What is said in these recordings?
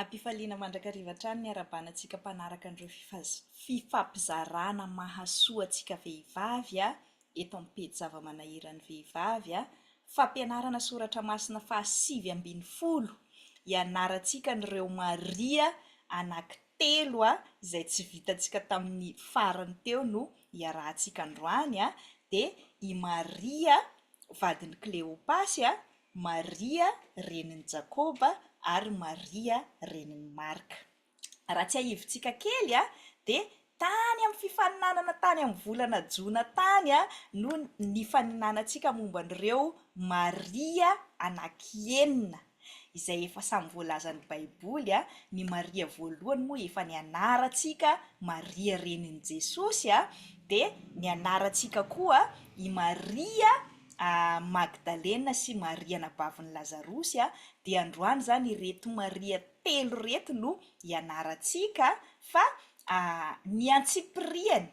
Am-pifaliana mandrakariva hatrany ny harabana antsika mpanaraka an'ireo fifampizarana mahasoa antsika vehivavy eto amin'ny pejy zava-manahiran'ny vehivavy. Fampianarana soratra masina faha sivy ambin'ny folo, ianarantsika an'ireo Maria anankitelo izay tsy vitantsika tamin'ny farany teo no iarahantsika androany dia i Maria vadin'i Kleopasy, Maria renin'i Jakoba ary Maria renin'i Marka. Raha tsiahivintsika kely dia tany amin'ny fifaninanana tany amin'ny volana jona tany no nifaninanantsika momba an'ireo Maria anankienina. izay efa samy voalazan'ny Baiboly, ny Maria voalohany moa efa nianarantsika Maria renin'i Jesosy, dia nianarantsika koa i Maria Magdalena sy Maria anabavin'i Lazarosy, dia androany izany ireto Maria telo ireto no ianarantsika fa ny antsipiriany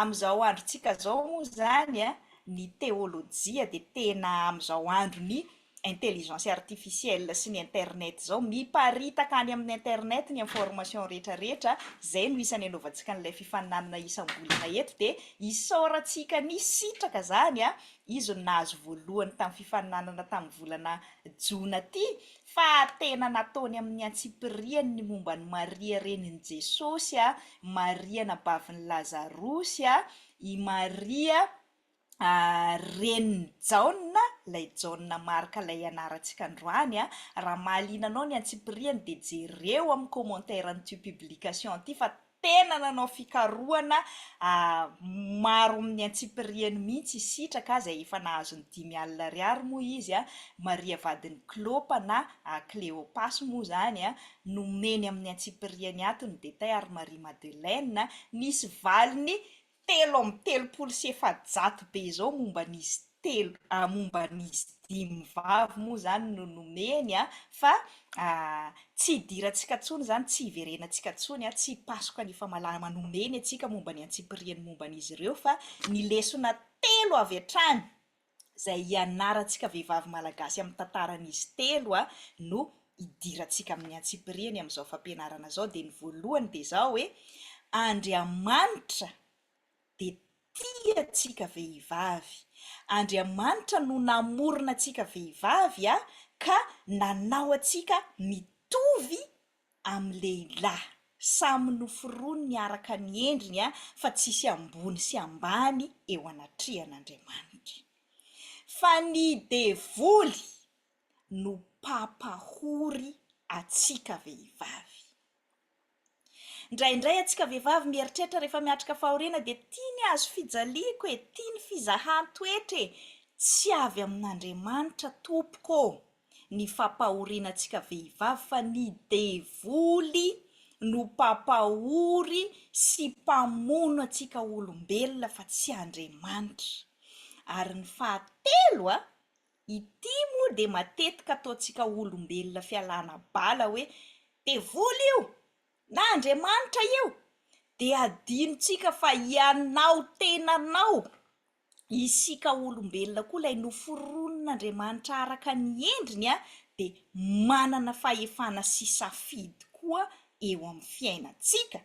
Amin'izao androntsika izao moa izany an, ny teolojia dia tena amin'izao andron'ny intelligence artificielle sy ny internet izao, miparitaka any amin'ny internet ny information rehetra rehetra, izay no isan'ny anaovantsika an'ilay fifaninanana isam-bolana eto, dia isaorantsika nisitraka izany an, izy no nahazo voalohany tamin'ny fifaninanana tamin'ny volana jona ity, fa tena nataony amin'ny antsipiriany ny momba an'i Maria renin'i Jesosy, Maria anabavin'i Lazarosy, i Maria renin'i Jaona, ilay Jaona Marka ilay ianarantsika androany, raha mahaliana anao ny antsipiriany dia jereo amin'ny commentaire an'ity publication ity fa tena nanao fikarohana maro amin'ny antsipiriany mihitsy i Sitraka izay efa nahazo ny dimy alina ariary moa izy, Maria vadin'i Klôpa na Kleôpas moa izany nomeny amin'ny antsipiriany ato ny Detaille ary Marie Madeleine nisy valiny telo amby telopolo sy efajato be izao momba an'izy telo ah momba an'izy dimy vavy moa izany no nomeny ah fa ah tsy hidirantsika intsony izany tsy hiverenantsika intsony ah tsy hipasoka ny famalama nomeny antsika momba ny antsipiriany momba an'izy ireo fa ny lesona telo avy hatrany izay hianarantsika vehivavy malagasy amin'ny tantaran'izy telo a, no hidirantsika amin'ny antsipiriany amin'izao fampianarana izao, dia ny voalohany dia izao hoe, Andriamanitra dia tia antsika vehivavy, Andriamanitra no namorona antsika vehivavy a, ka nanao antsika mitovy, amin'ny lehilahy. Samy noforoniny araka ny endriny fa tsisy ambony sy ambany eo anatrehan'Andriamanitra. Fa ny devoly no mpampahory antsika vehivavy. Ndraindray antsika vehivavy mieritreritra rehefa miatrika fahoriana dia tia ny hazo fijaliako e, tia ny fizahan-toetra e, tsy avy amin'Andriamanitra tompoko ô. ny fampahoriana antsika vehivavy fa ny devoly no mpampahory sy mpamono antsika olombelona fa tsy Andriamanitra. Ary ny fahatelo a, ity moa dia matetika ataontsika olombelona fialana bala hoe devoly io na Andriamanitra io dia adinontsika fa ianao tenanao isika olombelona koa ilay noforonin'Andriamanitra araka ny endriny dia manana fahefana sy safidy koa eo amin'ny fiainantsika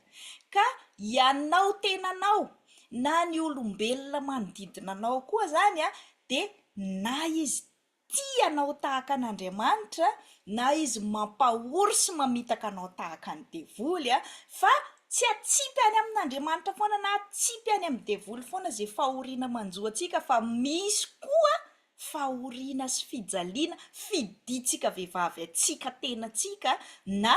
ka ianao tenanao na ny olombelona manodidina anao koa izany dia na izy tia anao tahaka an'Andriamanitra na izy mampahory sy mamitaka anao tahaka ny devoly a! fa tsy atsipy any amin'Andriamanitra foana na atsipy any amin'ny devoly foana izay fahoriana manjo antsika fa misy koa fahoriana sy fijaliana fidintsika vehivavy antsika tenantsika na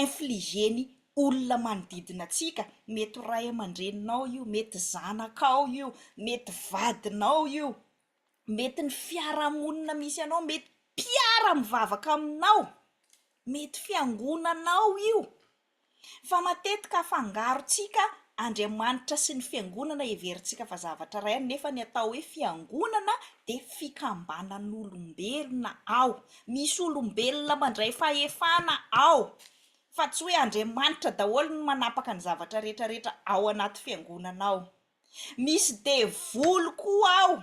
infliger ny olona manodidina antsika, mety ho ray aman-dreninao io, mety zanakao io, mety vadinao io, mety ny fiarahamonina misy anao, mety mpiara-mivavaka aminao, mety fiangonanao io, fa matetika afangarontsika Andriamanitra sy ny fiangonana heverintsika fa zavatra iray ihany nefa ny atao hoe fiangonana dia fikambanan'olombelona ao Misy olombelona mandray fahefana ao, fa tsy hoe Andriamanitra daholo no manapaka ny zavatra rehetra rehetra ao anaty fiangonana ao. Misy devoly koa ao.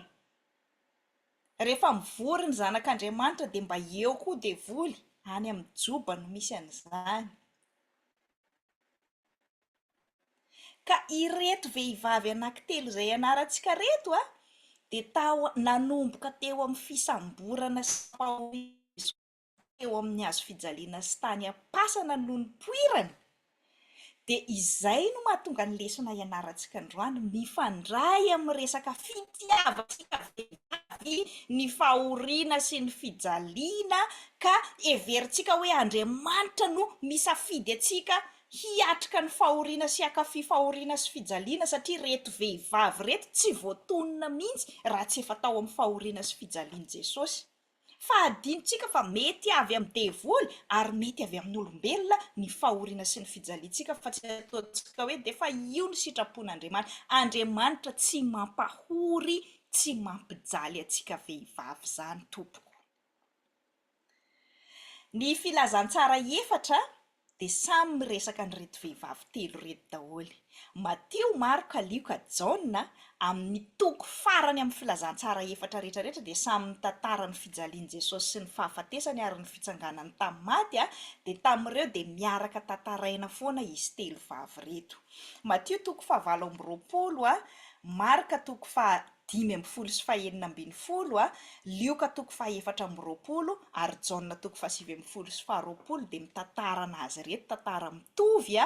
Rehefa mivory ny zanak'Andriamanitra dia mba eo koa devoly, any amin'ny joba no misy an'izany. Ka ireto vehivavy anankitelo izay ianarantsika reto a, dia tao nanomboka teo amin'ny fisamborana sy famoizana teo amin'ny hazo fijaliana sy tany am-pasana no nipoirany, dia izay no mahatonga ny lesona ianarantsika androany mifandray amin'ny resaka fitiavantsika vehivavy ny fahoriana sy ny fijaliana ka heverintsika hoe Andriamanitra no misafidy antsika hiatrika ny fahoriana sy hakafy fahoriana sy fijaliana satria ireto vehivavy ireto tsy voatonona mihitsy raha tsy efa tao amin'ny fahoriana sy fijalian'i Jesosy. Fa hadinontsika fa mety avy amin'ny devoly ary mety avy amin'olombelona ny fahoriana sy ny fijaliantsika fa tsy ataontsika hoe dia fa io ny sitrapon'Andriamanitra. Andriamanitra tsy mampahory tsy mampijaly antsika vehivavy izany tompoko. Ny filazantsara efatra dia samy miresaka an'ireto vehivavy telo ireto daholo. Matio, Marka, Lioka, Jaona, amin'ny toko farany amin'ny filazantsara efatra rehetrarehetra dia samy mitantara ny fijalian'i Jesosy sy ny fahafatesany ary ny fitsanganany tamin'ny maty, dia tamin'ireo dia miaraka tantaraina foana izy telo vavy ireto. Matio toko fahavalo amby roapolo, Marka toko faha. dimy ambin'ny folo sy fahenina ambin'ny folo, Lioka toko fahefatra amby roapolo ary Jaona toko fahasivy ambin'ny folo sy faharoapolo dia mitantarana azy ireto tantara mitovy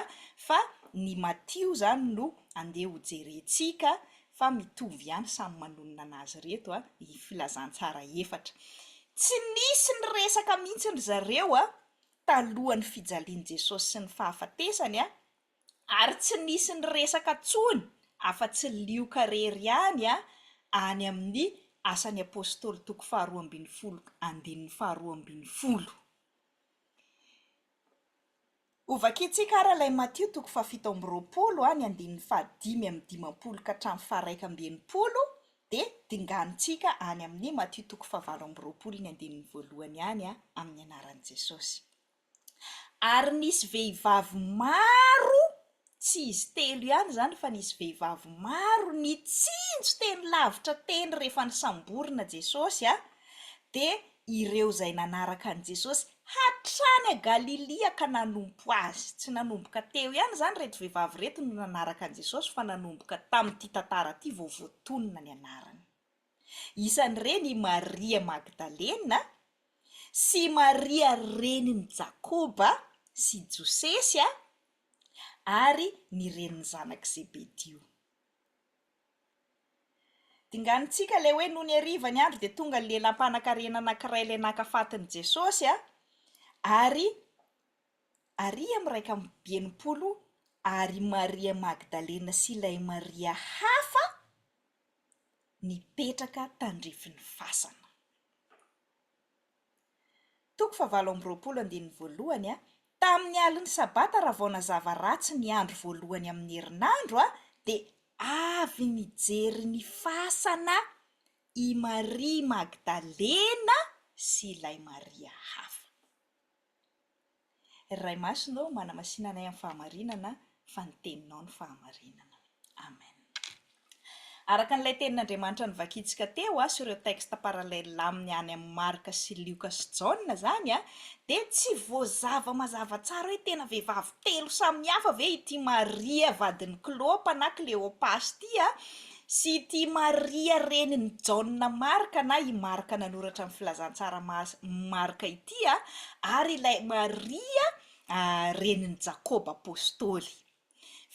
fa ny Matio izany no andeha ho jerentsika fa mitovy ihany samy manonona anazy ireto ny filazantsara efatra. Tsy nisy niresaka mihitsy ry zareo talohan'ny fijalian'i Jesosy sy ny fahafatesany. ary tsy nisy niresaka tsony afa-tsy lioka rery ihany a any amin'ny Asan'ny Apostoly toko faharoa ambin'ny folo andininy faharoa ambin'ny folo. Hovakiantsika ary ilay Matio toko fahafito amby roapolo a ny andininy fahadimy amin'ny dimampolo ka hatramin'ny faharaika amby enimpolo dia dinganintsika any amin'ny Matio toko fahavalo amby roapolo ny andininy voalohany ihany a amin'ny anaran'i Jesosy. ary nisy vehivavy maro tsy izy telo ihany izany fa nisy vehivavy maro nitsinjo teny lavitra teny rehefa nisamborina Jesosy an, dia ireo izay nanaraka an'i Jesosy hatrany à Galilia ka nanompo Azy, tsy nanomboka teo ihany izany ireto vehivavy ireto no nanaraka an'i Jesosy fa nanomboka tamin'ity tantara ity vao voatonona ny anarany. Isan'ireny i Maria Magdalena sy i Maria renin'i Jakoba sy Josesy ary ny renin'ny zanak'i Zebedio. Dinganintsika ilay hoe nony hariva ny andro dia tonga ny lehilahy mpanankarena anankiray ilay naka fatin'i Jesosy ary aria amin'iraika amby enimpolo ary i Maria Magdalena sy ilay Maria hafa nipetraka tandrifin'ny fasana. Toko fahavalo amby roapolo andininy voalohany, Tamin'ny alin'ny sabata raha vao nazava ratsy ny andro voalohany amin'ny herinandro, dia avy nijery ny fasana i Maria Magdalena sy ilay Maria hafa. Ray Masina ô, manamasina anay amin'ny fahamarinana, fa ny Teninao no fahamarinana. Amen. Araka an'ilay Tenin'Andriamanitra novakintsika teo sy ireo textes parallèles aminy any amin'ny Marka sy Lioka sy Jaona izany, dia tsy voazava mazava tsara hoe tena vehivavy telo samihafa ve ity Maria vadin'i Klopa na Kleopas ity Sy ity Maria renin'i Jaona Marka na i Marka nanoratra ny Filazantsara Masin'i Marka ity, ary ilay Maria renin'i Jakoba Apostoly.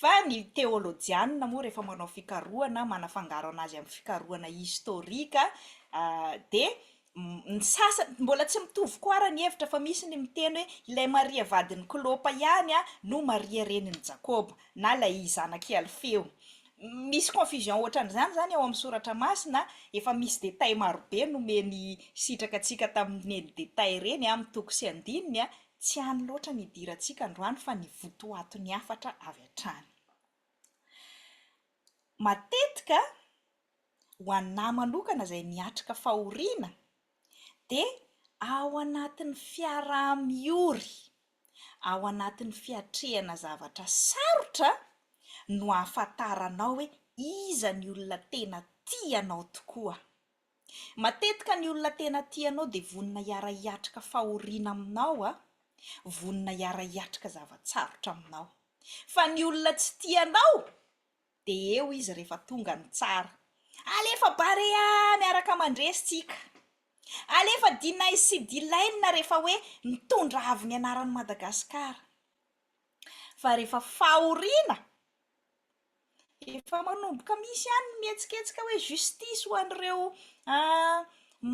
Fa ny teolojianina moa rehefa manao fikarohana, manafangaro anazy amin'ny fikarohana historika, dia Ny sasany, mbola tsy mitovy koa ara ny hevitra fa misy ny miteny hoe ilay Maria vadin'i Klopa ihany no Maria renin'i Jakoba, na ilay zanak'i Alfeo. Misy confusion ohatran'izany izany ao amin'ny soratra masina, efa misy détails marobe nomeny sitraka antsika tamin'ireny détails ireny amin'ny toko sy andininy, tsy any loatra ny hidirantsika androany fa ny votoaton'ny hafatra avy hatrany. Matetika, ho anà manokana izay miatrika fahoriana dia ao anatin'ny fiaraha-miory, ao anatin'ny fiatrehana zavatra sarotra no ahafantaranao hoe iza ny olona tena tia anao tokoa. Matetika ny olona tena tia anao dia vonona hiara-hiatrika fahoriana aminao, vonona hiara-hiatrika zava-tsarotra aminao. Fa ny olona tsy tia anao, De eo izy refa tonga ny tsara. Alefa barea miaraka mandresy tsika. Alefa deny sy dilaine refa hoe mitondra avy ny anaran'i Madagascar. Fa refa fahoriana efa manomboka misy ihany ny mihetsiketsika hoe justice ho an'ireo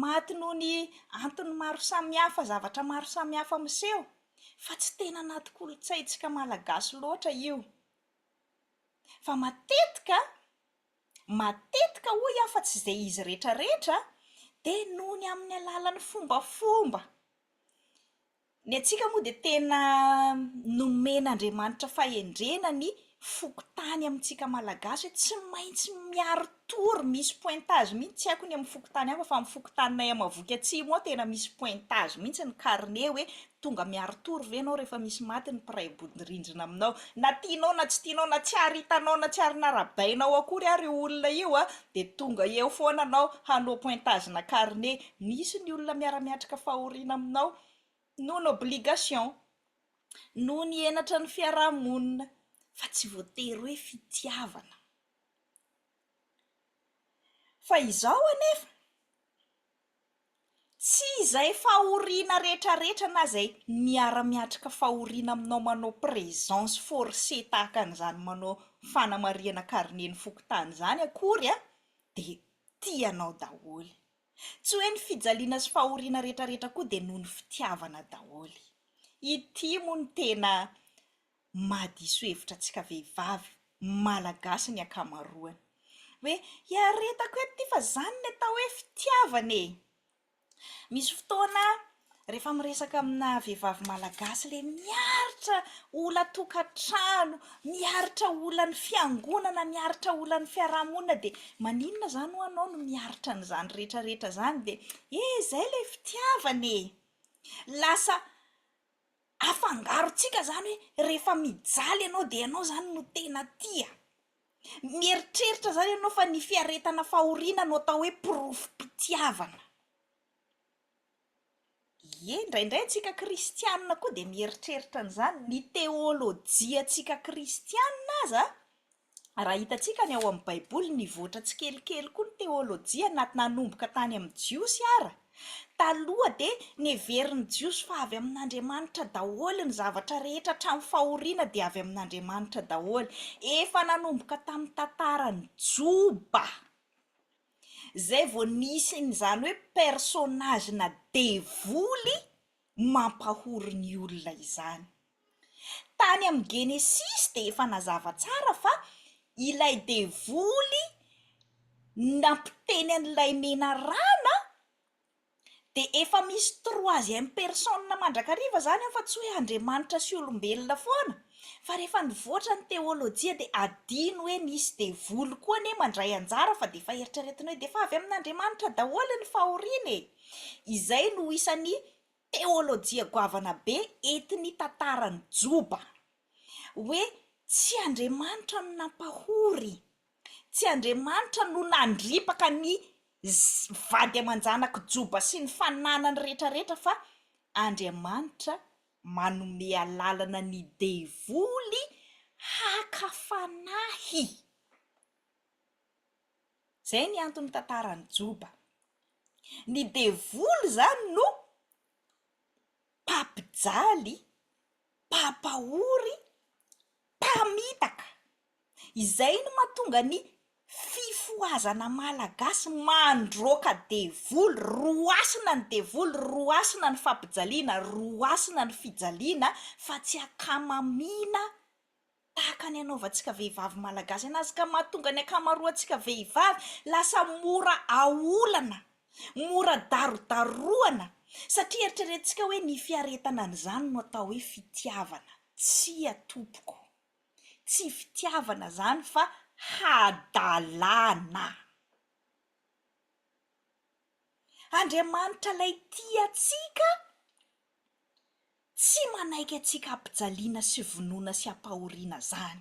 maty noho ny antony maro samihafa, zavatra maro samihafa miseho fa tsy tena anaty kolontsaintsika malagasy loatra io. Fa matetika, matetika hoy aho fa tsy izay izy rehetrarehetra, dia noho ny amin'ny alalan'ny fombafomba. Ny antsika moa dia tena nomen'Andriamanitra fahendrena ny fokontany amintsika Malagasy hoe tsy maintsy miaro Tour misy pointage mihitsy tsy haiko ny amin'ny fokontany hafa fa amin'ny fokontaninay Amavohiky Atsimo ao tena misy pointage mihitsy ny carnet hoe tonga miaro tour ve ianao rehefa misy maty ny mpiray bodirindrina aminao na tianao na tsy tianao na tsy ary hitanao na tsy ary narabainao akory ary io olona io a dia tonga eo foana anao hanao pointage na carnet misy ny olona miara-miatrika fahoriana aminao noho ny obligation noho ny henatra ny fiaraha-monina fa tsy voatery hoe fitiavana Fa izao anefa, tsy izay fahoriana retraretra na izay miara-miatrika fahoriana aminao manao présence forcée tahaka an'izany manao fanamarihana carnet ny fokontany izany akory dia tia anao daholo. Tsy hoe ny fijaliana sy fahoriana retraretra koa dia noho ny fitiavana daholo. Ity moa no tena mahadiso hevitra antsika vehivavy malagasy ny ankamaroany. Hoe hiaretako eto ity fa izany ny atao hoe fitiavana e! Misy fotoana rehefa miresaka amina vehivavy malagasy ilay miaritra olan-tokantrano, miaritra olan'ny fiangonana, miaritra olan'ny fiarahamonina dia maninona izany ho anao no miaritra an'izany rehetrarehetra izany dia eh izay ilay fitiavana e! Lasa afangarontsika izany hoe rehefa mijaly ianao dia ianao izany no tena tia. Mieritreritra izany ianao fa ny fiaretana fahoriana no atao hoe porofom-pitiavana. Ie, indraindray antsika kristianina koa dia mieritreritra an'izany. Ny teolojiantsika kristianina aza Raha hitantsika ny ao amin'ny Baiboly, nivoatra tsikelikely koa ny teôlôjia na nanomboka tany amin'ny Jiosy ara. Taloha dia niheverin'ny Jiosy fa avy amin'Andriamanitra daholo ny zavatra rehetra hatramin'ny fahoriana dia avy amin'Andriamanitra daholo. Efa nanomboka tamin'ny tantaran'i Joba izay vao nisy ny izany hoe personnage na devoly mampahory ny olona izany. Tany amin'ny Genesisy dia efa nazava tsara fa ilay devoly nampiteny an'ilay menarana dia efa misy troisième personne mandrakariva izany ao fa tsy hoe Andriamanitra sy olombelona foana fa rehefa nivoatra ny teolojia dia adino hoe nisy devoly koa anie mandray anjara fa dia efa eritreretina hoe dia efa avy amin'Andriamanitra daholo ny fahoriana e! Izay no isan'ny teolojia goavana be entin'ny tantaran'ny Joba. Hoe tsy Andriamanitra no nampahory, tsy Andriamanitra no nandripaka ny vady aman-janak'i Joba sy ny fananany rehetrarehetra fa Andriamanitra manome alalana ny devoly haka fanahy. Zay ny antony tantarany joba. Ny devoly zany no mpampijaly, mpampahory, mpamitaka. Izay no mahatonga ny fifohazana malagasy mandroaka devoly, roasina ny devoly, roasina ny fampijaliana, roasina ny fijaliana fa tsy akamamiana. tahaka ny anaovantsika vehivavy malagasy anazy ka mahatonga ny ankamaroantsika vehivavy lasa mora aolana, mora darodarohana satria eritreretintsika hoe ny fiaretana an'izany no atao hoe fitiavana. Tsia tompoko, tsy fitiavana izany fa hadalana. Andriamanitra ilay tia antsika. Tsy manaiky antsika hampijaliana sy vonoina sy hampahoriana izany.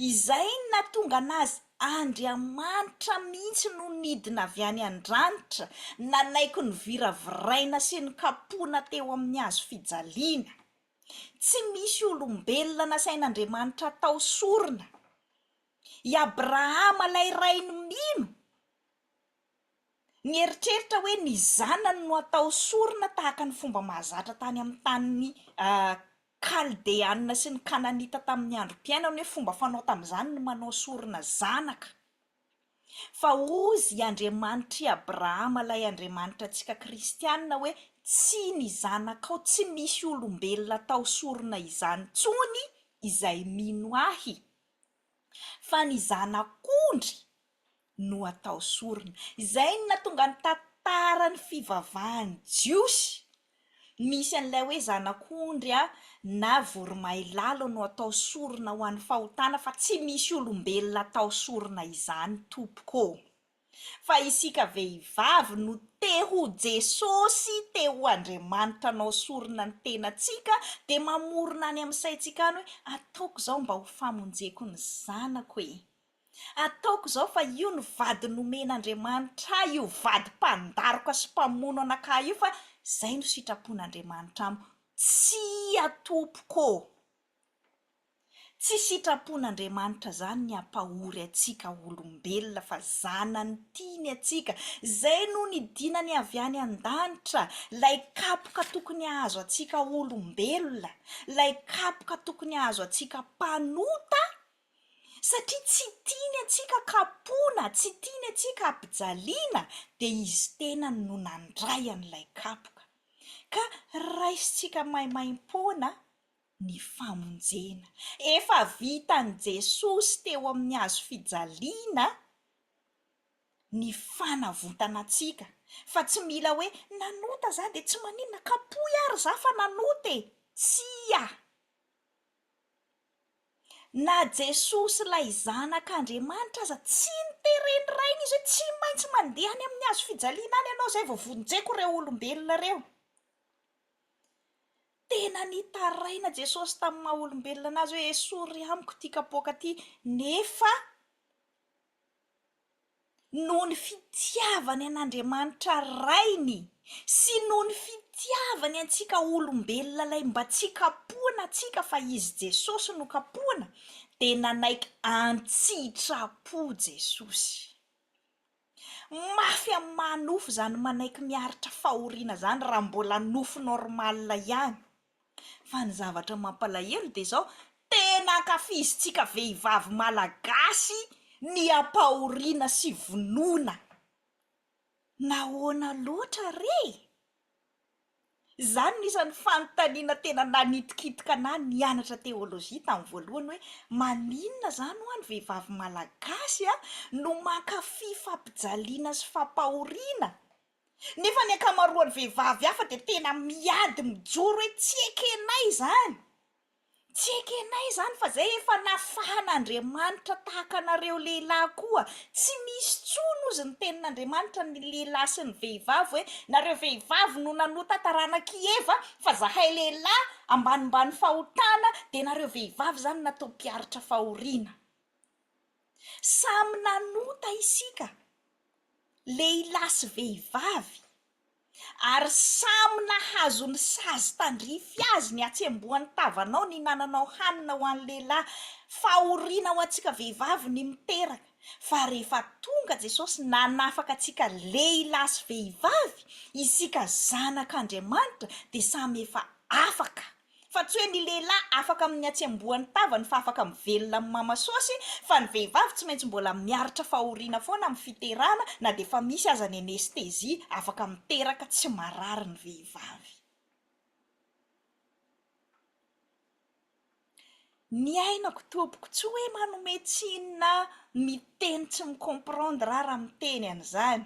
Izay no nahatonga an'azy, Andriamanitra mihitsy no nidina avy any an-dranitra, nanaiky noviraviraina sy nokapohina teo amin'ny hazo fijaliana. Tsy misy olombelona nasain'Andriamanitra hatao sorona. I Abrahama ilay rainy mino. Nieritreritra hoe ny zanany no hatao sorona tahaka ny fomba mahazatra tany amin'ny tanin'ny Kaldeanina sy ny Kananita tamin'ny androm-piainany, hoe fomba fanao tamin'izany ny manao sorona zanaka. Fa hozy i Andriamanitr'i Abrahama ilay Andriamanitra antsika kristianina hoe tsy ny zanakao, tsy misy olombelona hatao sorona izany intsony izay mino ahy, fa ny zanak'ondry no atao sorona. Izay no nahatonga ny tantaran'ny fivavahan'ny Jiosy misy an'ilay hoe zanak'ondry na voromailala no atao sorona ho an'ny fahotana fa tsy misy olombelona atao sorona izany tompoko ô! Fa isika vehivavy no te ho Jesosy, te ho Andriamanitra anao sorona ny tenantsika dia mamorona any amin'ny saintsika any hoe ataoko izao mba ho famonjeko ny zanako e! Ataoko izao fa io no vady nomen'Andriamanitra ahy, io vady mpandaroka sy mpamono anakah io, fa izay no sitrapon'Andriamanitra amiko. Tsia tompoko ô! Tsy sitrapon'Andriamanitra izany ny hampahory antsika ho olombelona fa zanany tiany antsika. Izay no nidinany avy any an-danitra, ilay kapoka tokony hahazo antsika olombelona, ilay kapoka tokony hahazo antsika mpanota, Satria tsy tiany antsika kapoina, tsy tiany antsika ampijaliana, dia izy tenany no nandray an'ilay kapoka. Ka raisintsika maimaim-poana ny famonjena. Efa vitan'i Jesosy teo amin'ny hazo fijaliana ny fanavotana antsika, fa tsy mila hoe, nanota za dia tsy maninona, kapohy ary za fa nanota e! Tsia! Na Jesoa sy ilay Zanak'Andriamanitra aza tsy noteren'ny Rainy izy hoe tsy maintsy mandeha any amin'ny hazo fijaliana any ianao izay vao vonjeko ireo olombelona ireo. Tena nitaraina Jesosy tamin'ny maha olombelona an'azy hoe esory amiko ity kapoaka ity nefa noho ny fitiavany an'Andriamanitra Rainy sy noho ny fitiavany antsika olombelona ilay mba tsy kapohina antsika fa izy Jesosy no kapohina dia nanaiky an-tsitrapo Jesosy. Mafy amin'ny maha nofo izany manaiky miaritra fahoriana izany raha mbola nofo normal ihany. Fa ny zavatra mampalahelo dia izao, tena ankafizintsika vehivavy malagasy ny ampahoriana sy vonoina. Nahoana loatra re e? Izany no isan'ny fanontaniana tena nanitikitika anah nianatra teolojia tamin'ny voalohany hoe, maninona izany ho'a ny vehivavy malagasy no mankafy fampijaliana sy fampahoriana? Nefa ny ankamaroan'ny vehivavy hafa dia tena miady mijoro hoe tsy ekenay izany, tsy ekenay izany fa izay efa nafahan'Andriamanitra tahaka anareo lehilahy koa, tsy misy intsony hozy ny tenin'Andriamanitra ny lehilahy sy ny vehivavy hoe nareo vehivavy no nanota taranak'i Eva fa zahay lehilahy ambanimbany fahotana dia nareo vehivavy izany natao mpiaritra fahoriana. Samy nanota isika, lehilahy sy vehivavy, ary samy nahazo ny sazy tandrify azy ny hatsembohan'ny tavanao ny hinananao hanina ho an'ny lehilahy. Fahoriana ho antsika vehivavy ny miteraka, fa rehefa tonga Jesosy nanafaka antsika lehilahy sy vehivavy, isika zanak'Andriamanitra dia samy efa afaka. Fa tsy hoe ny lehilahy afaka amin'ny hatsembohan'ny tavany fa afaka mivelona amin'ny mamasôsy fa ny vehivavy tsy maintsy mbola miaritra fahoriana foana amin'ny fiterahana na dia efa misy aza ny anesthésie afaka miteraka tsy marary ny vehivavy. Ny ainako tompoko tsy hoe manome tsiny na miteny tsy mi-comprendre aho raha miteny an'izany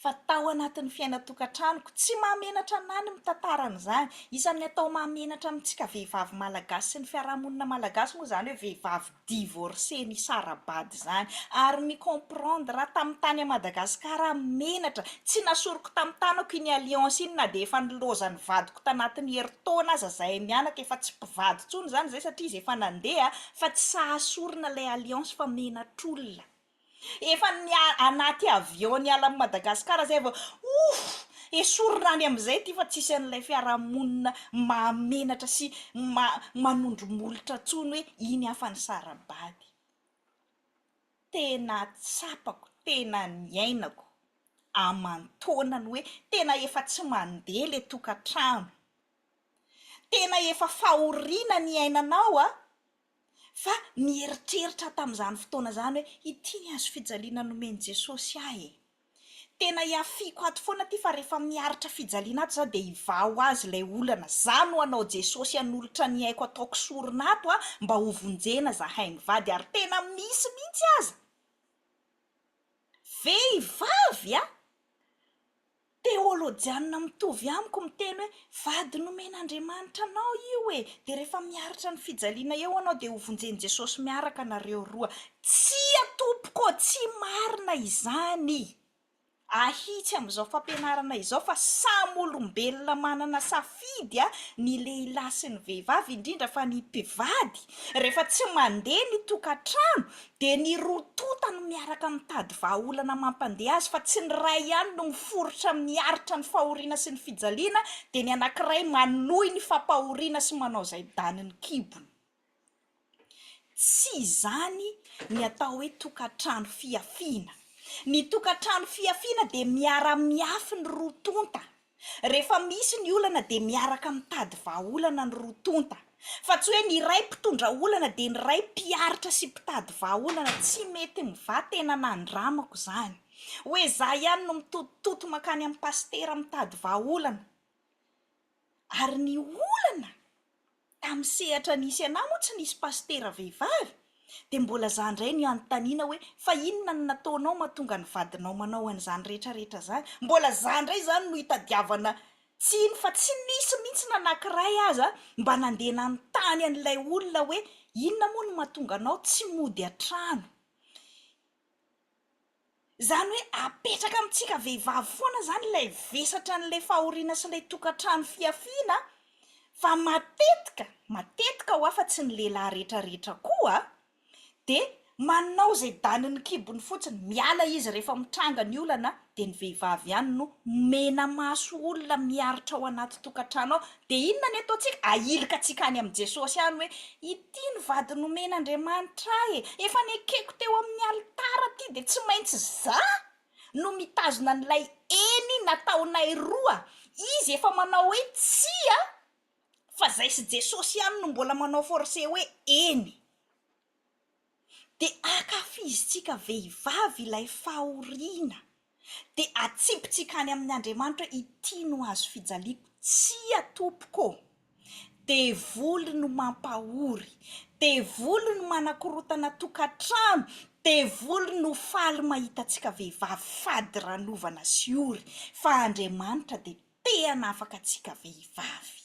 Fa tao anatin'ny fiainan-tokantranoko. Tsy mahamenatra anahy ny mitantara an'izany. Isan'ny atao mahamenatra amintsika vehivavy malagasy sy ny fiarahamonina malagasy moa izany hoe vehivavy divorcée nisara-bady izany. Ary mi-comprendre aho, tamin'ny tany à Madagascar aho menatra, tsy nasoriko tamin'ny tanako iny alliance iny na dia efa nilaozan'ny vadiko tanatin'ny herintaona aza izahay mianaka, efa tsy mpivady intsony izany izahay satria izy efa nandeha fa tsy sahy sorona ilay alliance fa menatr'olona. Efa ny anaty avion niala an'i Madagasikara zay vao ouff! Esorina any amin'izay ity fa tsisy an'ilay fiarahamonina mahamenatra sy manondro molotra tsony hoe iny aho fa nisara-bady. Tena tsapako, tena niainako aman-taonany hoe tena efa tsy mandeha ilay tokantrano. Tena efa fahoriana ny iainanao an! fa nieritreritra tamin'izany fotoana izany hoe, ity ny hazofijaliana nomen'i Jesosy ahy e! Tena ihafiako ato foana ity fa rehefa miaritra fijaliana ato izaho dia hivaho azy ilay olana, izaho no hanao Jesosy hanolotra ny aiko ataoko sorona ato an, mba hovonjena izahay mivady ary tena misy mihitsy aza vehivavy an! Teolojianina mitovy amiko miteny hoe vady nomen'Andriamanitra anao io e! Dia rehefa miaritra ny fijaliana eo anao dia hovonjen'i Jesosy miaraka nareo roa. Tsia tompoko ô! Tsy marina izany! Ahitsy amin'izao fampianarana izao fa samy olombelona manana safidy ny lehilahy sy ny vehivavy indrindra fa ny mpivady rehefa tsy mandeha ny tokantrano Dia ny roa tonta no miaraka mitady vahaolana mampandeha azy fa tsy ny iray ihany no miforitra amin'ny aritra ny fahoriana sy ny fijaliana dia ny anankiray manohy ny fampahoriana sy manao izay danin'ny kibony. Tsy izany ny atao hoe tokantrano fihafiana. Ny tokantrano fihafiana dia miara-mihafy ny roa tonta. Rehefa misy ny olana dia miaraka mitady vahaolana ny roa tonta, fa tsy hoe ny iray mpitondra olana dia ny iray mpiaritra sy mpitady vahaolana, tsy mety mva tena nandramako izany hoe za ihany no mitotototo makany amin'ny pasitera mitady vahaolana ary ny olana Tamin'ny sehatra nisy anà moa tsy nisy pasitera vehivavy? Dia mbola zà indray ny hanontaniana hoe fa inona no nataonao mahatonga ny vadinao manao an'izany rehetrarehetra izany? Mbola zà indray izany no hitadiavana tsiny fa tsy nisy mihitsy na anankiray aza mba nandeha nanontany an'ilay olona hoe inona moa no mahatonga anao tsy mody an-trano? Izany hoe apetraka amintsika vehivavy foana izany ilay vesatra an'ilay fahoriana sy ilay tokantrano fihafiana fa matetika, matetika ho'a fa tsy ny lehilahy rehetra rehetra koa dia manao izay danin'ny kibony fotsiny, miala izy rehefa mitranga ny olana dia ny vehivavy ihany no menamaso olona miaritra ao anaty tokantrano ao, Dia inona ny ataontsika? Ahilika antsika any amin'i Jesosy any hoe, Ity ny vady nomen'Andriamanitra ahy e! Efa nekeko teo amin'ny alitara ity, dia tsy maintsy izaho no mitazona an'ilay eny nataonay roa. Izy efa manao hoe tsia, fa izay sy Jesosy ihany no mbola manao forcer hoe eny. dia ankafizintsika vehivavy ilay fahoriana, dia atsipintsika any amin' Andriamanitra hoe ity no hazo fijaliako, tsia tompoko ô! devoly no mampahory, devoly no manakorotana tokantrano, devoly no faly mahita antsika vehivavy fadiranovana sy ory, fa Andriamanitra dia tehana afaka antsika vehivavy.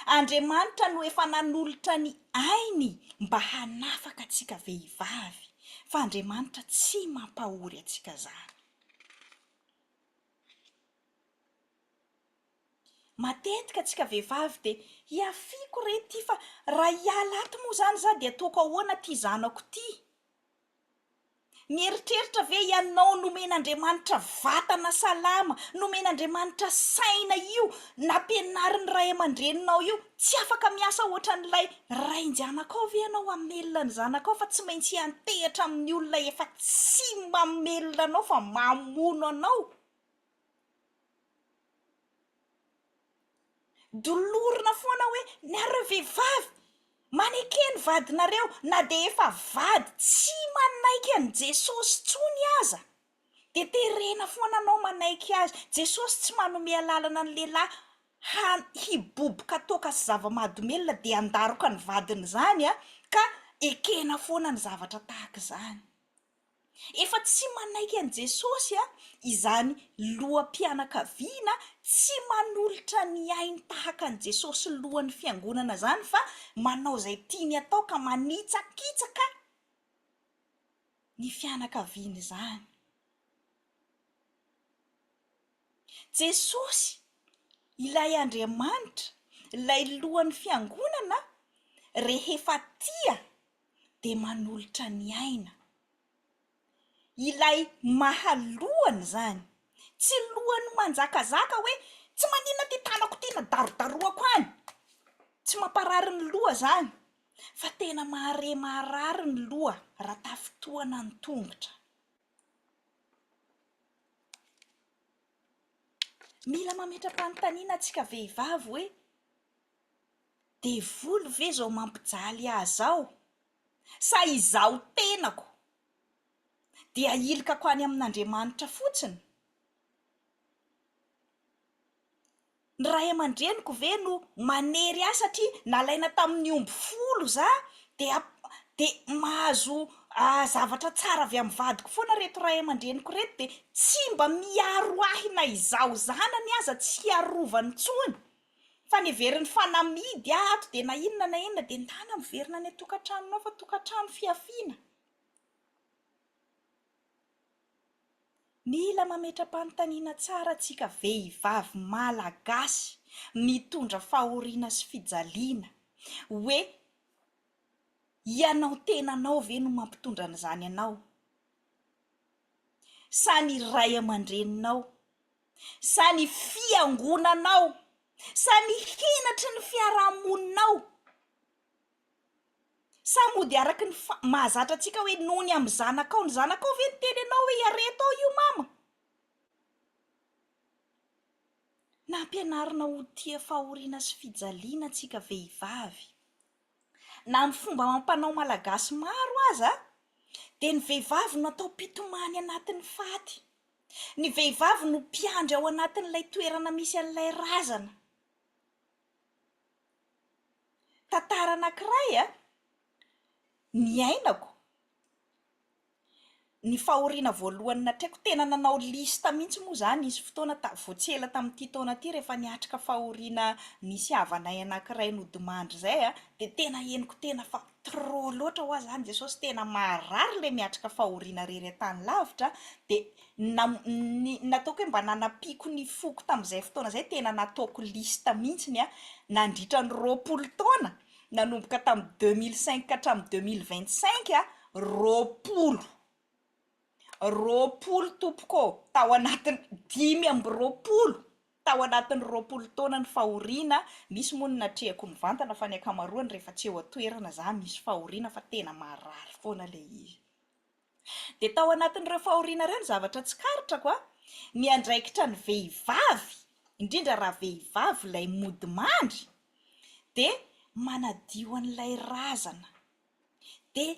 Andriamanitra no efa nanolotra ny ainy mba hanafaka antsika vehivavy, fa Andriamanitra tsy mampahory antsika izany. Matetika antsika vehivavy dia hiafiako re ity fa raha hiala ato moa izany izaho dia ataoko ahoana ity zanako ity? Mieritreritra ve ianao nomen'Andriamanitra vatana salama, nomen'Andriamanitra saina io nampianarin'ny ray aman-dreninao io? Tsy afaka miasa ohatran'ilay rain-janakao ve ianao hamelona ny zanakao fa tsy maintsy hiantehatra amin'ny olona efa tsy mamelona anao fa mamono anao? Dolorina foana hoe nareo vehivavy maneke ny vadinareo na dia efa vady tsy manaiky an'i Jesosy intsony aza dia terena foana anao manaiky azy. Jesosy tsy manome alalana ny lehilahy han- hiboboka toaka sy zava-mahadomelina dia handaroka ny vadiny izany ka ekena foana ny zavatra tahaka izany. Efa tsy manaiky an'i Jesosy an, izany loham-pianakaviana tsy manolotra ny ainy tahaka an'i Jesosy lohan'ny fiangonana izany fa manao izay tiany atao ka manitsakitsaka ny fianakaviany izany. Jesosy ilay Andriamanitra, ilay lohan'ny fiangonana rehefa tia. dia manolotra ny aina. Ilay maha lohany izany. Tsy lohany manjakazaka hoe tsy maninona ity tanako ity na darodaroako any. Tsy mamparary ny loha izany fa tena mahare maharary ny loha raha tafintohana ny tongotra. Mila mametra-panontaniana antsika vehivavy hoe. Devoly ve zao mampijaly ahy zao? Sa izaho tenako dia hilikako any amin'Andriamanitra fotsiny? Ny ray aman-dreniko ve no manery ahy satria nalaina tamin'ny omby folo za dia dia mahazo zavatra tsara avy amin'ny vadiko foana reto ray aman-dreniko reto dia tsy mba miaro ahy na izaho zanany aza tsy hiarovany intsony? Fa ny heverin'ny fanamidy ahy ato dia na inona na inona dia ndana miverina any an-tokantranonao fa tokantrano fihafiana. Mila mametra-panontaniana tsara antsika vehivavy Malagasy mitondra fahoriana sy fijaliana hoe ianao tenanao ve no mampitondra an'izany anao sa ny ray aman-dreninao sa ny fiangonanao sa ny henatry ny fiarahamoninao sa mody araky ny fa- mahazatra antsika hoe noho ny amin'ny zanakao, ny zanakao ve niteny anao hoe iareto ao io mama? Nampianarina ho tia fahoriana sy fijaliana antsika vehivavy. Na amin'ny fomba amam-panao malagasy maro aza dia ny vehivavy no atao mpitomany anatin'ny faty. Ny vehivavy no mpiandry ao anatin'ilay toerana misy an'ilay razana. Tantara anankiray an, niainako, ny fahoriana voalohany natrehiko, tena nanao liste mihitsy moa izaho nisy fotoana ta- vao tsy ela tamin'ity taona ity rehefa niatrika fahoriana nisy havanay anankiray nodimandry izay an, dia tena henoko tena fa trop loatra hoa zany Jesosy tena maharary le miatrika fahoriana rery an-tany lavitra de nam ny nataoko hoe mba nanampiako ny foko tamin'izay fotoana zay tena nataoko liste mintsiny a nandritra ny roapolo taona nanomboka tamin'ny deux mille cinq ka hatramin'ny deux mille vingt cinq a roapolo roapolo tompoko ô tao anatin'ny dimy amby roapolo Tao anatin'ny roapolo taonan'ny fahoriana, misy moa ny natrehako mivantana fa ny ankamaroany rehefa tsy eo an-toerana za misy fahoriana fa tena marary foana ilay izy. Dia tao anatin'ireo fahoriana ireo ny zavatra tsikaritrako an, ny andraikitra ny vehivavy, indrindra raha vehivavy ilay mody mandry dia manadio an'ilay razana. dia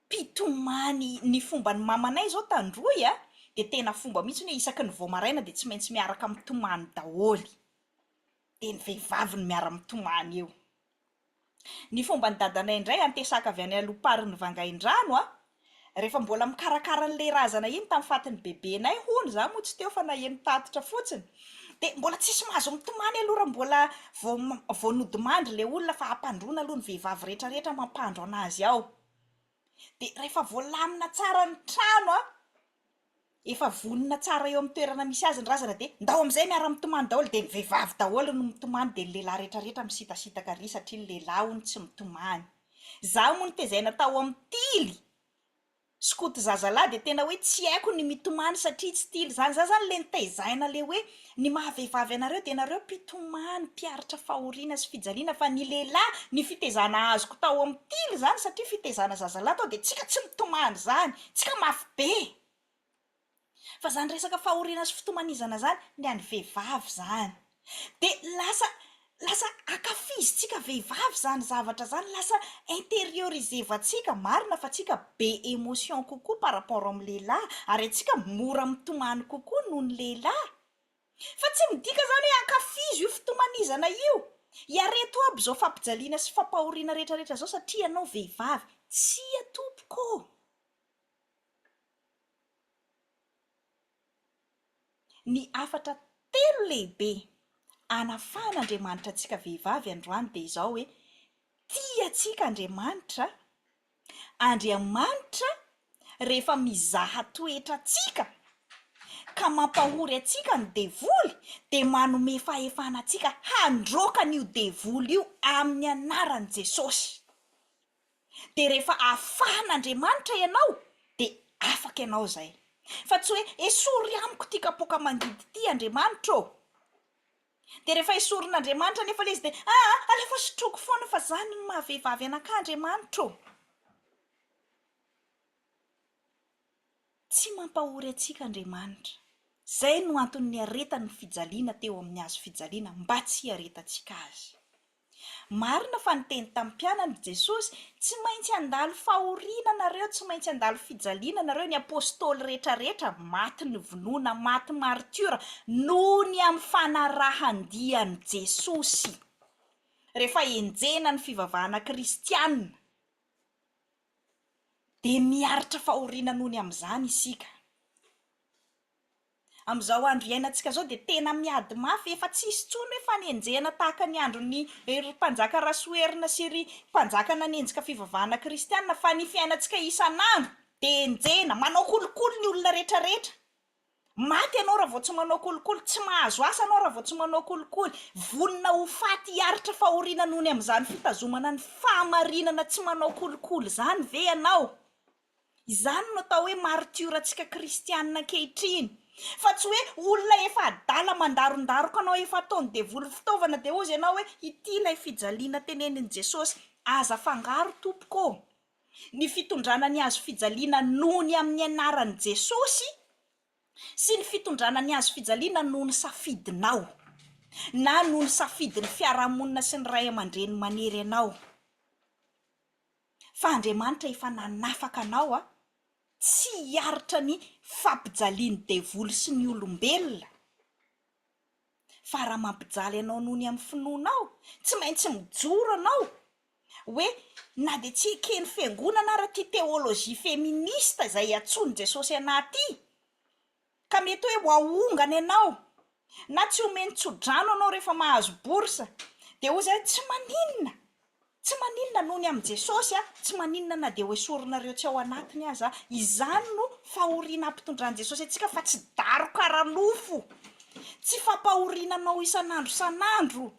mpitomany ny fomba ny mamanay zao tandroy a dia tena fomba mihitsy hoe isaky ny vao maraina dia tsy maintsy miaraka mitomany daholo dia ny vehivavy no miara mitomany eo ny fomba ny dadanay indray antesaka avy any alom-parin'ny vangaindrano a Rehefa mbola mikarakara an'ilay razana iny tamin'ny fatin'ny bebenay hono, izaho moa tsy teo fa naheno tatitra fotsiny, dia mbola tsisy mahazo mitomany aloha raha mbola vao vao nodimandry ilay olona fa hampandroana aloha ny vehivavy rehetrarehetra mampandro an'azy ao, dia rehefa voalamina tsara ny trano an, efa vonona tsara eo amin'ny toerana misy azy ny razana dia ndao amin'izay miara mitomany daholo dia ny vehivavy daholo no mitomany dia ny lehilahy retraretra misitasitaka ary satria ny lehilahy hono tsy mitomany za moa notezaina tao amin'ny tily skoto zazalahy dia tena hoe tsy haiko ny mitomany satria tsy tily zany za zany le nitezaina le hoe Ny maha vehivavy anareo dia nareo mpitomany, mpiaritra fahoriana sy fijaliana fa ny lehilahy ny fitezana azoko tao amin'ny tily izany satria fitezana zazalahy tao dia tsika tsy mitomany izany, tsika mafy be. Fa izany resaka fahoriana sy fitomanizana izany ny an'ny vehivavy izany dia lasa Lasa akafizintsika vehivavy izany zavatra izany, lasa interiorisevantsika, marina fa tsika be emotion kokoa par rapport amin'ny lehilahy ary antsika mora mitomany kokoa noho ny lehilahy, fa tsy midika izany hoe ankafizo io fitomanizana io, iareto aby izao fampijaliana sy fampahoriana rehetrarehetra izao satria ianao vehivavy, tsia tompoko ô! Ny hafatra telo lehibe anafahan'Andriamanitra antsika vehivavy androany dia izao hoe, tia antsika Andriamanitra, Andriamanitra rehefa mizaha toetra antsika ka mampahory antsika ny devoly dia manome fahefana antsika handroaka an'io devoly io amin'ny anaran'i Jesosy. dia rehefa afahan' Andriamanitra ianao dia afaka ianao izay. Fa tsy hoe esory amiko ity kapoaka mangidy ity Andriamanitra ô! Dia rehefa esorin' Andriamanitra anefa ilay izy dia aa alefa sotroiko foana fa zany no maha vehivavy anakahy Andriamanitra ô! Tsy mampahory antsika Andriamanitra. Izay no antony niaretany ny fijaliana teo amin'ny hazo fijaliana mba tsy hiaretantsika azy. Marina fa niteny tamin'ny mpianany i Jesosy, Tsy maintsy handalo fahoriana nareo, tsy maintsy handalo fijaliana nareo, ny apostoly rehetrarehetra maty novonoina, maty maritiora noho ny amin'ny fanarahan-dia an'i Jesosy. Rehefa enjehina ny fivavahana kristianina, dia miaritra fahoriana noho ny amin'izany isika. Amin'izao andro iainantsika izao dia tena miady mafy, efa tsy hisy intsony hoe fanenjehana tahaka ny andron'ny ry mpanjaka Rasoherina sy ry mpanjaka nanenjika fivavahana kristiana fa ny fiainantsika isan'andro dia enjehina, manao kolikoly ny olona retraretra, maty ianao raha vao tsy manao kolikoly, tsy mahazo asa ianao raha vao tsy manao kolikoly, vonona ho faty hiaritra fahoriana noho ny amin'izany fitazomana ny fahamarinana tsy manao kolikoly izany ve ianao? Izany no atao hoe martiorantsika kristianina ankehitriny. Fa tsy hoe olona efa adala mandarondaroka anao, efa ataon'ny devoly fitaovana dia hozy ianao hoe ity ilay fijaliana tenenin'i Jesosy. Aza afangaro tompoko ô! Ny fitondrana ny hazo fijaliana noho ny amin'ny anaran'i Jesosy sy ny fitondrana ny hazo fijaliana noho ny safidinao na noho ny safidin'ny fiarahamonina sy ny ray aman-dreny manery anao. fa Andriamanitra efa nanafaka anao a, tsy hiaritra ny fampijalian'ny devoly sy ny olombelona, fa raha mampijaly anao noho ny amin'ny finoanao, tsy maintsy mijoro anao hoe na dia tsy eken'ny fiangonana ara ity théologie féministe izay iantsoan'i Jesosy anah ity, Ka mety hoe ho ahongana ianao na tsy homeny tso-drano ianao rehefa mahazo bourse, dia hoy izay, tsy maninona, tsy maninona noho ny amin'i Jesosy aho, tsy maninona na dia hoesorinareo tsy ao anatiny aza aho. Izany no fahoriana ampitondran'i Jesosy antsika fa tsy daroka ara-nofo, tsy fampahoriana anao isan'andro isan'andro.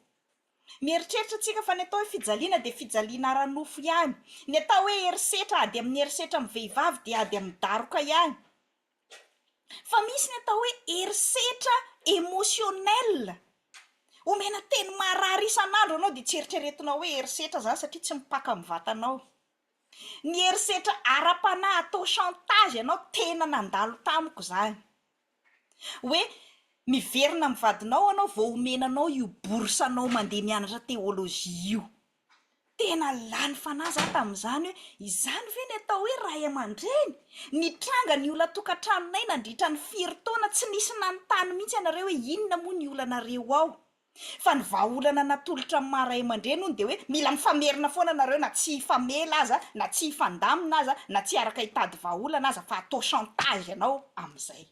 Mieritreritra tsika fa ny atao hoe fijaliana dia fijaliana ara-nofo ihany, ny atao hoe herisetra, ady amin'ny herisetra amin'ny vehivavy dia ady amin'ny daroka ihany. Fa misy ny atao hoe herisetra emotionnel, omena teny marary isan'andro anao dia tsy eritreretinao hoe herisetra izany satria tsy mipaka amin'ny vatanao. Ny herisetra ara-panahy atao chantage anao tena nandalo tamiko izany, hoe miverina amin'ny vadinao anao vao omena anao io bourse anao mandeha mianatra théologie io. Tena lany fanahy za tamin'izany hoe izany ve ny atao hoe ray aman-dreny? Nitranga ny olan-tokantranonay nandritra ny firy taona, tsy nisy nanontany mihitsy ianareo hoe inona moa ny olanareo ao? Fa ny vahaolana natolotra ny maha ray aman-dreny hono dia hoe mila mifamerina foana nareo na tsy hifamela aza, na tsy hifandamina aza, na tsy hiaraka hitady vahaolana aza fa atao chantage ianao amin'izay.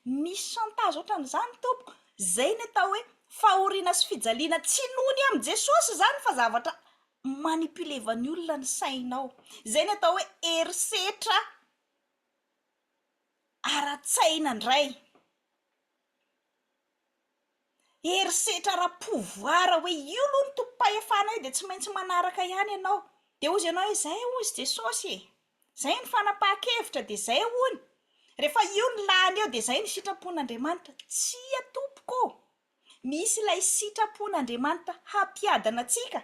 Misy chantage otran'izany tompoko, zay ny atao hoe fahoriana sy fijaliana tsy noho ny amin'i Jesosy izany fa zavatra manipulevan'ny olona ny sainao, zay ny atao hoe herisetra ara-tsaina indray. herisetra ara pouvoir hoe io aloha no tompom-pahefanay dia tsy maintsy manaraka ihany ianao dia hozy ianao hoe zay hozy i Jesosy e! zay ny fanapahan-kevitra dia zay hono rehefa io no lany eo dia zay ny sitrapon'Andriamanitra, tsia tompoko o! misy ilay sitrapon'Andriamanitra hampiadana antsika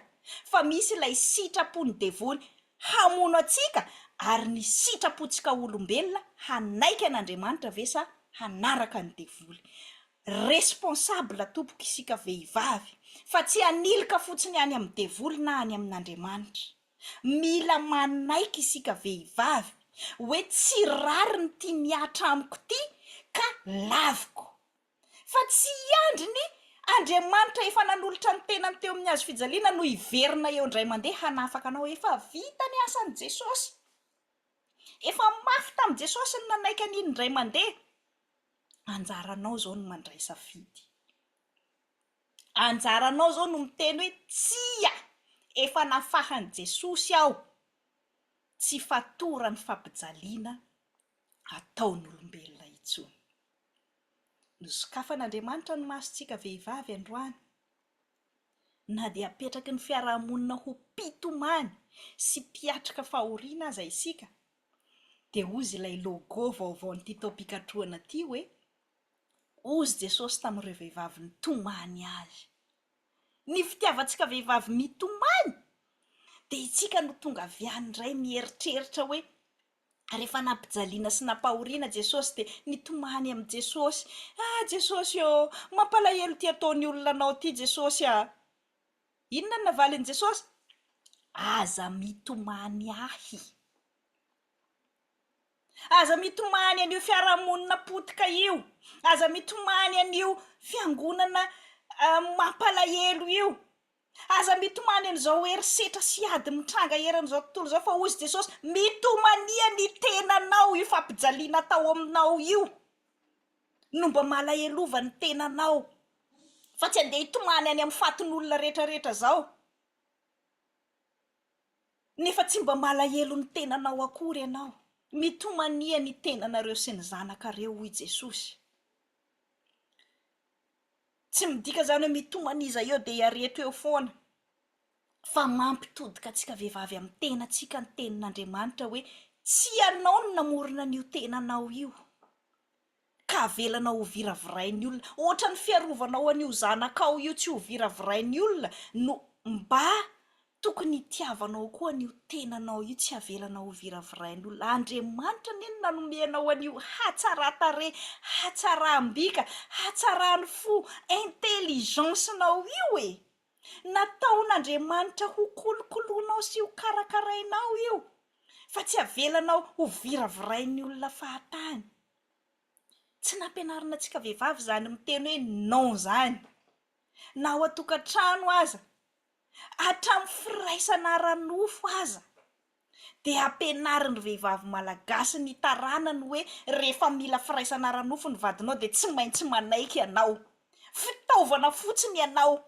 fa misy ilay sitrapon'ny devoly hamono antsika ary ny sitrapontsika olombelona hanaiky an'Andriamanitra ve sa hanaraka ny devoly? Responsable tompoko isika vehivavy fa tsy hanilika fotsiny any amin'ny devoly na any amin'Andriamanitra. Mila manaiky isika vehivavy hoe tsy rariny ity mihatra amiko ity ka laviko. Fa tsy hiandry ny Andriamanitra efa nanolotra ny tenany teo amin'ny hazo fijaliana no hiverina eo indray mandeha hanafaka anao. Efa vita ny asan'i Jesosy. Efa mafy tamin'i Jesosy ny nanaiky an'iny indray mandeha. anjaranao zao no mandray safidy, anjaranao zao no miteny hoe tsia, efa nafahan'i Jesosy aho, tsy fatoran'ny fampijaliana ataon'olombelona intsony. Nosokafan'Andriamanitra ny masontsika vehivavy androany, na dia apetraky ny fiarahamonina ho mpitomany sy mpiatrika fahoriana aza isika, dia hozy ilay logo vaovaon'ity taom-pikatrohana ity hoe, Hozy Jesosy tamin'ireo vehivavy nitomany Azy. Ny fitiavantsika vehivavy mitomany dia itsika no tonga avy any indray mieritreritra hoe, rehefa nampijaliana sy nampahoriana Jesosy dia nitomany amin'i Jesosy, Ah Jesosy ô, mampalahelo ity ataon'ny olona Anao ity Jesosy ah. Inona no navalin'i Jesosy? Aza mitomany ahy. Aza mitomany an'io fiarahamonina potika io. Aza mitomany an'io fiangonana mampalahelo io. Aza mitomany an'izao herisetra sy ady mitranga eran'izao tontolo izao fa hoy izy Jesosy, mitomania ny tenanao io fampijaliana atao aminao io. no mba malahelova ny tenanao fa tsy andeha hitomany any amin'ny fatin'olona retraretra zao nefa tsy mba malahelo ny tenanao akory ianao, mitomania ny tenanareo sy ny zanakareo hoy Jesosy, tsy midika zany hoe mitomania iza eo dia ihareto eo foana. Fa mampitodika antsika vehivavy amin'ny tenantsika ny tenin'Andriamanitra hoe, Tsy ianao no namorona an'io tenanao io, ka avelanao hoviravirain'ny olona. Hoatran'ny fiarovanao an'io zanakao io tsy hoviravirain'ny olona no mba tokony hitiavanao koa an'io tenanao io, tsy avelanao hoviravirain'olona. Andriamanitra anie no nanome anao an'io hatsaran-tarehy, hatsaram-bika, hatsaran'ny fo, intelligence-nao io e! Nataon'Andriamanitra ho kolokoloinao sy ho karakarainao io fa tsy avelanao ho viravirain'ny olona fahatany. Tsy nampianarina antsika vehivavy izany miteny hoe non izany, na ao an-tokantrano aza, hatramin'ny firaisana ara-nofo aza. dia ampianarin'ny vehivavy malagasy ny taranany hoe rehefa mila firaisana ara-nofo ny vadinao dia tsy maintsy manaiky ianao. Fitaovana fotsiny ianao.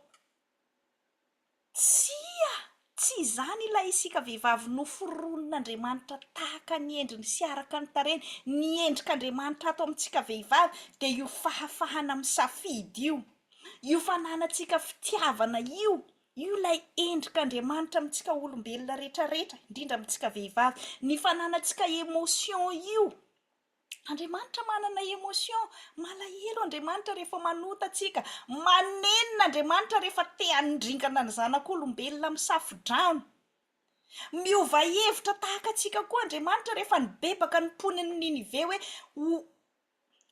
Tsia, tsy izany ilay isika vehivavy noforonin'Andriamanitra tahaka ny endriny sy araka ny tarehiny. Ny endrik'Andriamanitra ato amintsika vehivavy dia io fahafahana misafidy io, io fananantsika fitiavana io, Io ilay endrik'Andriamanitra amintsika olombelona rehetra rehetra, indrindra amintsika vehivavy. Ny fananantsika emotion io. Andriamanitra manana emotion. Malahelo Andriamanitra rehefa manota antsika. Manenina Andriamanitra rehefa te hanondringana ny zanak'olombelona amin'ny safodrano. Miova hevitra tahaka antsika koa Andriamanitra rehefa nibebaka ny mponin'i Ninive hoe ho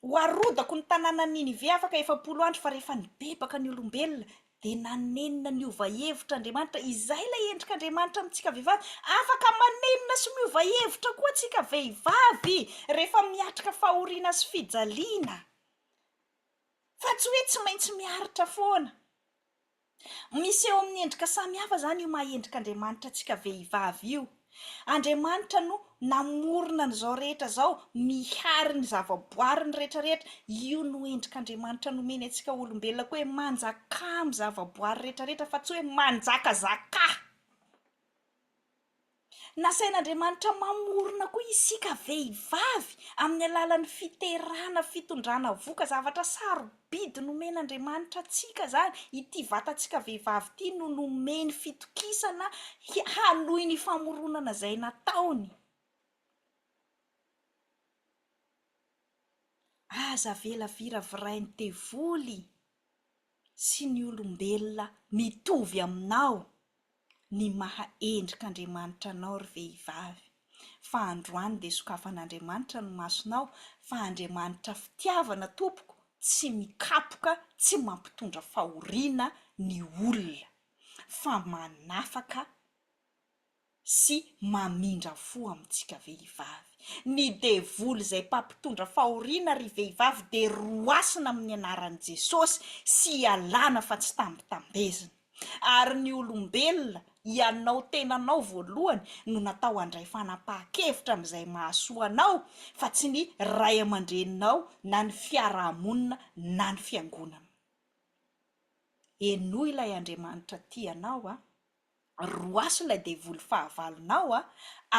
Ho arodako ny tanànan'i Ninive afaka efapolo andro, fa rehefa nibebaka ny olombelona, dia nanenina niova hevitra Andriamanitra. Izay ilay endrik'Andriamanitra amintsika vehivavy. Afaka manenina sy miova hevitra koa isika vehivavy, rehefa miatrika fahoriana sy fijaliana. Fa tsy hoe tsy maintsy miaritra foana. Miseho amin'ny endrika samy hafa izany io maha endrik'Andriamanitra antsika vehivavy io. Andriamanitra no namorona an'izao rehetra izao, mihary ny zavaboariny rehetrarehetra. Io no endrik'Andriamanitra nomeny antsika olombelona koa hoe manjakà amin'ny zavaboary rehetrarehetra fa tsy hoe manjakazakà. Nasain'Andriamanitra mamorona koa isika vehivavy amin'ny alalan'ny fiterana fitondrana vohoka. Zavatra sarobidy nomen'Andriamanitra antsika izany. Ity vatantsika vehivavy ity no nomeny fitokisana hi- hanohy ny famoronana izay nataony. Aza avela viravirain'ny devoly sy ny olombelona mitovy aminao ny maha endrik'Andriamanitra anao ry vehivavy, fa androany dia sokafan'Andriamanitra ny masonao fa Andriamanitra fitiavana tompoko tsy mikapoka tsy mampitondra fahoriana ny olona fa manafaka sy mamindra fo amintsika vehivavy. Ny devoly izay mpampitondra fahoriana ry vehivavy dia roasina amin'ny anaran'i Jesosy sy ialana fa tsy tambitambezina. Ary ny olombelona, ianao tenanao voalohany, no natao handray fanapahan-kevitra amin'izay mahasoa anao fa tsy ny ray aman-dreninao na ny fiaraha-monina na ny fiangonana. Henoy ilay Andriamanitra tia anao a! Roaso ilay devoly fahavalonao a!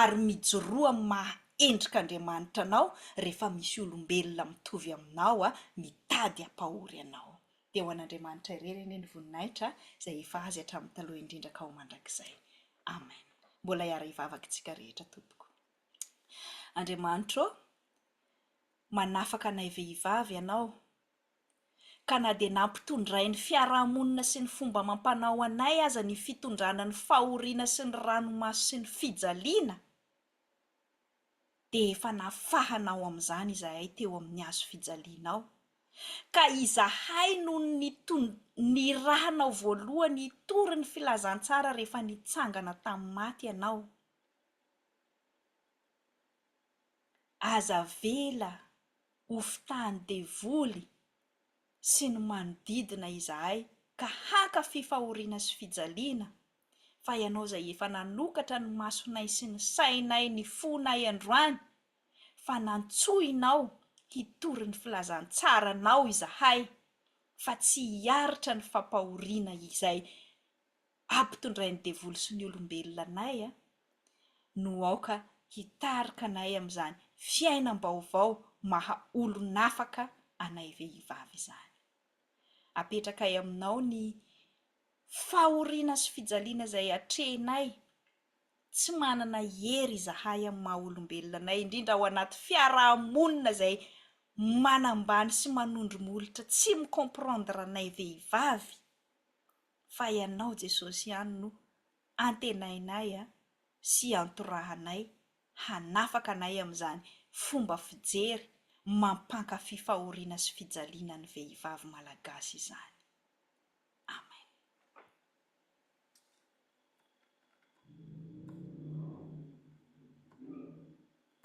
ary mijoroa amin'ny maha endrik'Andriamanitra anao rehefa misy olombelona mitovy aminao a! mitady hampahory anao. Dia ho an'Andriamanitra irery anie ny voninahitra izay efa Azy hatramin'ny taloha indrindra ka ho mandrakizay. Amen. Mbola hiara-hivavaka isika rehetra tompoko. Andriamanitra ô! manafaka anay vehivavy Ianao. ka na dia nampitondrainy fiarahamonina sy ny fomba amam-panao anay aza ny fitondrana ny fahoriana sy ny ranomaso sy ny fijaliana, dia efa nafahana ao amin'izany izahay teo amin'ny hazo fijaliana ao, ka izahay no nirahanao voalohany hitory ny filazantsara rehefa nitsangana tamin'ny maty ianao. Aza avela ho fitahin'ny devoly sy ny manodidina izahay ka hankafy fahoriana sy fijaliana, fa Ianao izay efa nanokatra ny masonay sy ny sainay, ny fonay androany, fa nantsoinao hitory ny filazantsaranao izahay, fa tsy hiaritra ny fampahoriana izay ampitondrain'ny devoly sy ny olombelona anay no aoka hitarika anay amin'izany fiainam-baovao maha olon'afaka anay vehivavy izany. Apetrakay aminao ny fahoriana sy fijaliana izay atrehinay, tsy manana hery izahay amin'ny maha olombelona anay, indrindra ao anaty fiaraha-monina izay manambany sy manondro molotra tsy mi-comprendre anay vehivavy, fa Ianao Jesosy ihany no antenainay sy antorahanay hanafaka anay amin'izany fomba fijery mampankafy fahoriana sy fijaliana ny vehivavy malagasy izany. Amen.